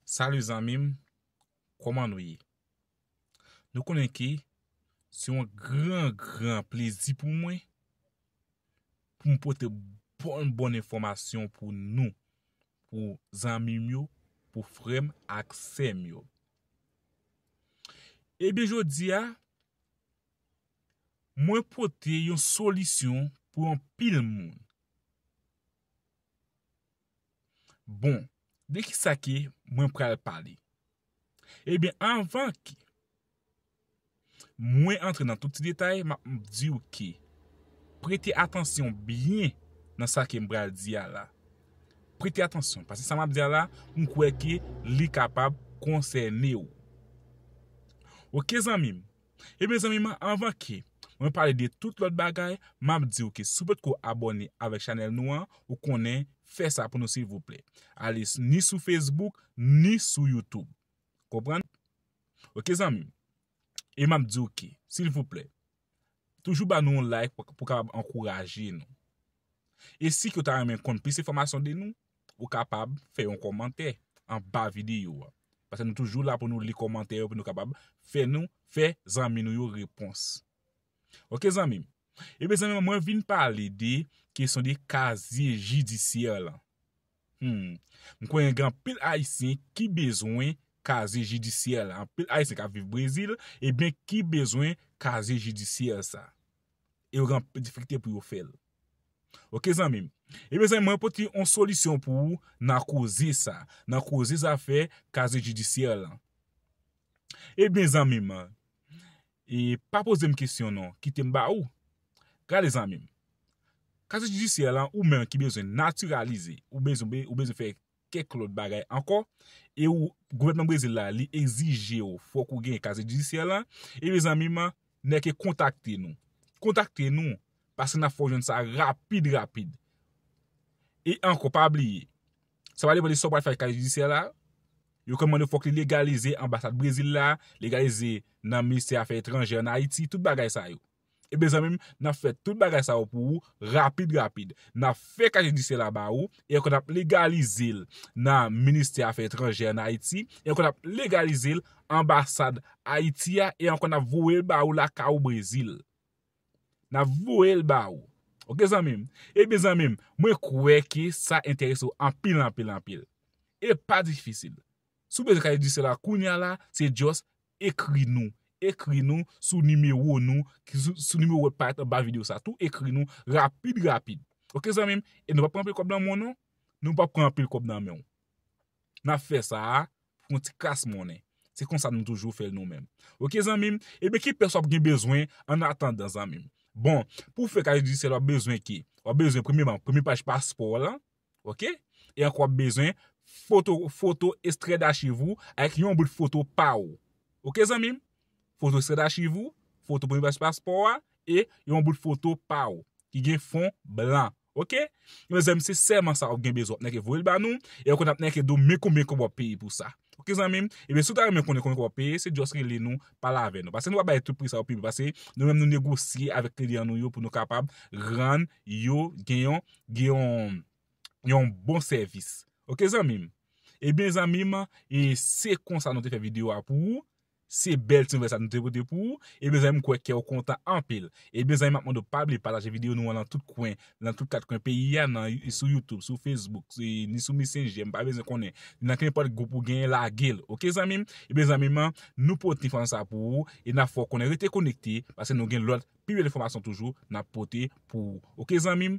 Salut zanmim koman nou ye nou konnen ke se yon gran gran plezi pou mwen pou m pote bon bon enfòmasyon pou nou pou zanmim yo pou frèm ak sèm yo ebyen jodi a mwen pote yon solisyon pou anpil moun Bon, de ki sa ke mwen pral pale? Ebyen anvan ke mwen antre nan tout ti detay, m ap di ou ke prete atansyon byen nan sa ke m pral di a la. Prete atansyon, paske sa m ap di a la, m kwè ke li kapab konsène ou. Ok zanmi m. E mezanmi man anvan ke Mwen pale de tout lòt bagay map diw ke si w potko abòne avèk chanèl nou an ou konnen fè sa pou nou silvouplè ale ni sou Facebook ni sou YouTube konprann ok zanmim e map diw ke silvouplè toujou ba nou yon like pou kapab ankouraje nou e si ke w ta renmen konn plis enfòmasyon de nou Ou kapab fè yon kòmantè anba videyo a. Pase nou toujou la pou nou li kòmantè yo pou nou kapab fè nou fè zanmi nou yo repons. Ok zanmi m. Ebyen zanmi mwen vin pale de kesyon de kazye jidisyè lan. Hum. M konnen gen anpil ayisyen ki bezwen kazye jidisyè lan. Anpil ayisyen k ap viv Brezil ebyen ki bezwen kazye jidisyè sa. E yo gen anpil difikilte pou yo fèl. Ok zanmim. Ebyen zanmim mwen pote yon solisyon pou ou nan koze sa. Nan koze zafè kaze jidisyè lan. Ebyen zanmim. E pa pozem kesyon non. Kitem ba ou. Gade zanmim. Kaze jidisyè lan ou menm ki bezwen natiralize. Ou bezwen fè kèk lòt bagay ankò, e ou, gouvènman Brezil la, li egzije ou fòk ou gen kazye jidisyè lan, e mezanmi man, nè ke kontakte nou. Kontakte nou, paske n'ap fè ou jwenn sa rapid rapid. E ankò, pa bliye, sa va depan de sa ou pral fè ak kazye jidisyè la, yo konn mande fòk li legalize anbasad Brezil la, legalize nan ministè afè etranjè an Ayiti, tout bagay sa yo. Ebyen zanmim nap fè tout bagay sa yo pou ou rapid rapid nap fè kay jidisye la ba ou e ankò nap legalizel nan ministè afè etranjè an ayiti e ankò nap legalizel anbasad ayiti a e ankò nap voyel ba ou lakay ou brezil nap voyel ba ou ok zanmim ebyen zanmim mwen kwè ke sa enterese ou anpil anpil anpil e pa difisil Si w bezwen kaye di se la kounya la se just ekri nou ekri nou sou nimewo nou ki sou nimewo wap parèt anba video sa tou ekri nou rapid rapid ok zanmi m e nou pap pran anpil kòb nan men w non nou pap pran anpil kòb nan men w nap fè sa a pou yon ti kras monnen se konsa nou toujou fè l nou menm ok zanmi m ebyen ki pès wap gen bezwen an atandan zanmi m bon pou w fè kaye dijisèl wap bezwen ki wap bezwen premyeman premye paj paspò w lan Ok e ankò wap bezwen foto foto estrè dachiv ou ak yon bout foto pa ou ok zanmim foto estrè dachiv ou foto premye paj paspò a e yon bout foto pa ou ki gen fon blan ok ebyen zanmim se sèlman sa wap gen bezwen wap nèke voyel ba nou e ankò nap nèke di w men konbyen kob wap peye pou sa ok zanmim ebyen si w ta renmen konnen konbyen kob wap peye se just rele nou pale avè nou pase nou pa bay tout pri sa yo pi bas paske nou menm nou negosye avèk kliyan nou yo pou nou kapab rann yo gen yon gen yon bon sèvis. Ok zanmim. Ebyen zanmim se konsa nou te fè video a pou ou. Se bèl ti nouvèl sa nou te pote pou ou. Ebyen zanmim kwè kèw kontan anpil. Ebyen zanmim map mande w pa bliye pataje video nou an nan tout kwen. Nan tout kat kwen peyi a nan sou youtube, sou facebook, ni sou messenger m pa bezwen konnen. Nan kenpòt gwoup ou gen lagel. Ok zanmim. Ebyen zanmim nou pote enfòmasyon sa pou ou. E nap fè w konnen rete konekte. Pase nou gen lòt pi bèl enfòmasyon toujou nap pote pou ou. Ok zanmim.